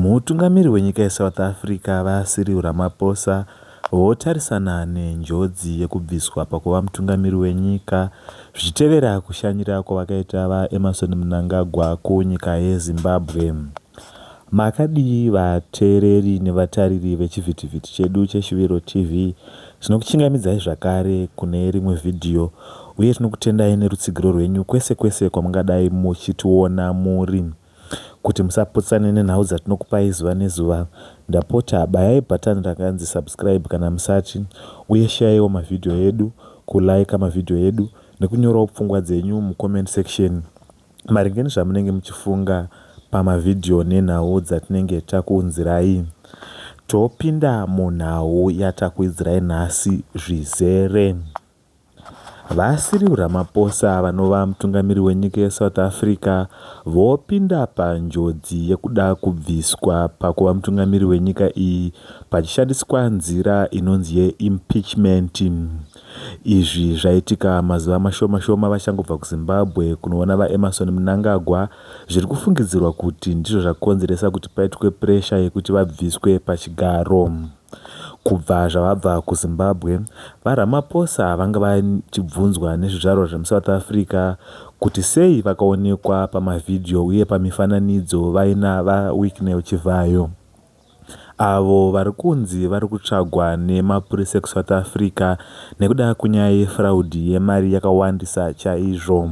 Mutungamiri wenyika yeSouth Africa, VaCyril Ramaphosa, votarisana nenjodzi yekubviswa pakuva mutungamiri wenyika zvichitevera kushanyira kwavakaita VaEmmerson Mnangagwa kunyika yeZimbabwe. Makadii vateereri nevatariri vechivhitivhiti chedu cheShuviro TV? Tinokuchingamidzai zvakare kune rimwe vhidhiyo uye tinokutendai nerutsigiro rwenyu kwese kwese kwamungadai muchitiona muri. Kuti musaputsane nenhau dzatinokupai zuva nezuva, ndapota bayai bhatani rakanzi Subscribe kana musati, uye sheyaiwo mavhidhiyo edu, kulayika mavhidhiyo edu nekunyorawo pfungwa dzenyu mucomment section. Maringe nezvamunenge muchifunga pamavhidhiyo nenhau dzatinenge takuunzirai, topinda munhau yatakuidzirai nhasi zvizere. VaCyril Ramaphosa vanova mutungamiri wenyika yeSouth Africa vopinda panjodzi yekuda kubviswa pakuva mutungamiri wenyika iyi pachishandiswa nzira inonzi yeimpeachment. Izvi zvaitika mazuva mashoma shoma vachangobva kuZimbabwe kunoona VaEmmerson Mnangagwa zviri kufungidzirwa kuti ndizvo zvakonzeresa kuti paitwe puresha yekuti vabviswe pachigaro. Kubva zvavabva kuZimbabwe, VaRamaphosa vanga vachibvunzwa nezvizvarwa zvemuSouth Africa kuti sei vakaonekwa pamavhidhiyo uye pamifananidzo vaina VaWicknell Chivhayo. avo vari kunzi vari kutsvagwa nemapurisa ekuSouth Africa nekuda kwenyaya yefraudi yemari yakawandisa chaizvo.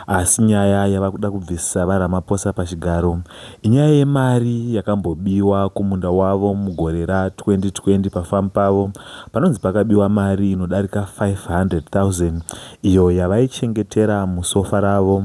Asi nyaya yava kuda kubvisa VaRamaphosa pachigaro inyaya yemari yakambobiwa kumunda wavo mugore ra 2020 pafamu pavo panonzi pakabiwa mari inodarika 500,000 iyo yavaichengetera musofa ravo.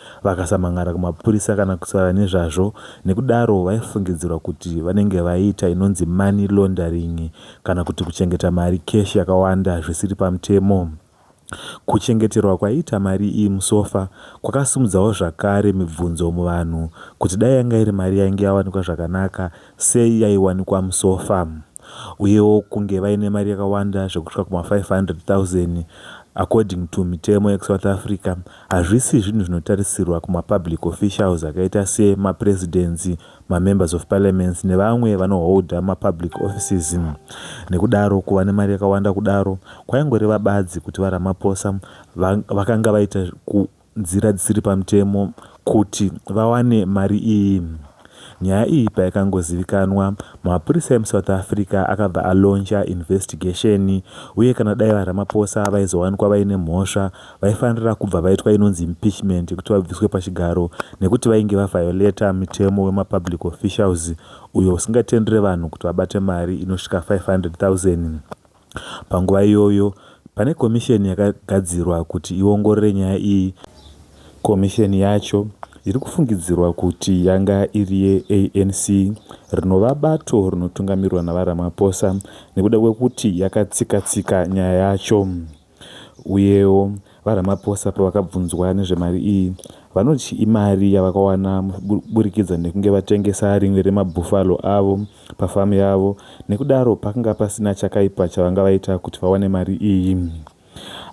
vakasamhan'ara kumapurisa kana kutaura nezvazvo nekudaro vaifungidzirwa kuti vanenge vaiita inonzi money laundering kana kuti kuchengeta mari cash yakawanda zvisiri pamutemo. Kuchengeterwa kwaiita mari iyi musofa kwakasimudzawo zvakare mibvunzo muvanhu kuti dai yanga iri mari yainge yawanikwa zvakanaka, sei yaiwanikwa musofa. uyewo kunge vaine mari yakawanda zvekusvika kuma 500,000 according to mitemo yekuSouth Africa hazvisi zvinhu zvinotarisirwa kuma public officials akaita se ma presidents, ma members of parliaments nevamwe vano holder ma public offices nekudaro kuva nemari yakawanda kudaro kwaingoreva badzi kuti vaRamaphosa vakanga vaita ku nzira dzisiri pamutemo kuti vawane mari iyi. Nyaya iyi paikangozivikanwa, mapurisa emuSouth Africa akabva alonja investigation uye kana dai VaRamaphosa vaizowanikwa vaine mhosva, vaifanira kubva vaitwa inonzi impeachment yekuti vabviswe pachigaro nekuti vainge vaviolator mutemo wemaPublic Officials uyo usingatendere vanhu kuti vabate mari inosvika 500,000. Panguva iyoyo, pane komisheni yakagadzirwa kuti iongorore nyaya iyi. Komisheni yacho iri kufungidzirwa kuti yanga iri yeANC, rinova bato rinotungamirwa naVaRamaphosa nekuda kwekuti yakatsika-tsika nyaya yacho. Uyewo, VaRamaphosa pavakabvunzwa nezvemari iyi, vanoti imari yavakawana kuburikidza nekunge vatengesa rimwe remabhufalo avo pafamu yavo nekudaro pakanga pasina chakaipa chavanga vaita kuti vawane mari iyi.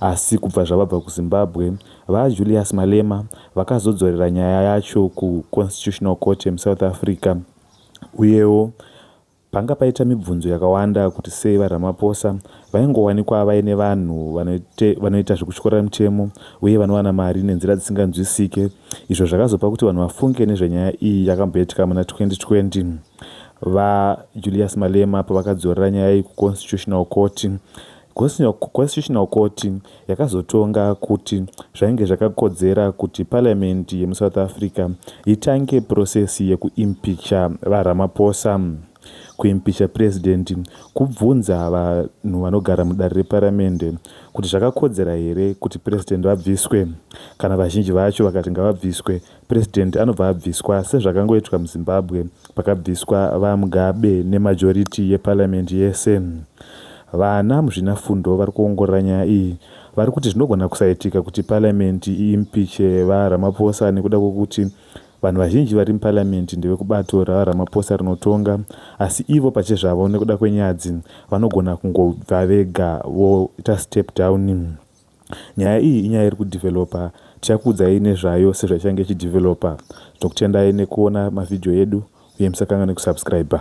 Asi kubva zvavabva kuZimbabwe, VaJulius Malema vakazodzorera nyaya yacho kuConstitutional Court yemuSouth Africa uyewo Panga paita mibvunzo yakawanda kuti sei VaRamaphosa vaingowanikwa vaine vanhu vanoite, vanoita zvekutyorera mitemo uye vanowana mari nenzira dzisinganzwisike izvo zvakazopa kuti vanhu vafunge nezvenyaya iyi yakamboitika muna 2020 VaJulius Malema pavakadzorera nyaya iyi kuConstitutional Court Constitutional Court yakazotonga kuti zvainge zvakakodzera kuti parliament yemuSouth Africa itange process yekuimpeacher VaRamaphosa. Kuimpeacher president kubvunza vanhu vanogara mudare reparamende kuti zvakakodzera here kuti president vabviswe. Kana vazhinji vacho vakati ngavabviswe, President anobva abviswa sezvakangoitwa muZimbabwe pakabviswa VaMugabe nemajority yeparliament yese. Vana muzvinafundo vari kuongorora nyaya iyi vari kuti zvinogona kusaitika kuti parliament iimpiche VaRamaphosa nekuda kwekuti vanhu vazhinji vari muparliament ndevekubato raVaRamaphosa rinotonga asi ivo pachezvavo nekuda kwenyadzi vanogona kungobva vega voita step down. Nyaya iyi inyaya iri kudeveloper tichakuudzai nezvayo sezvaichange ichideveloper. Tinokutendai nekuona mavideo edu uye musakanganwe kusubscriber.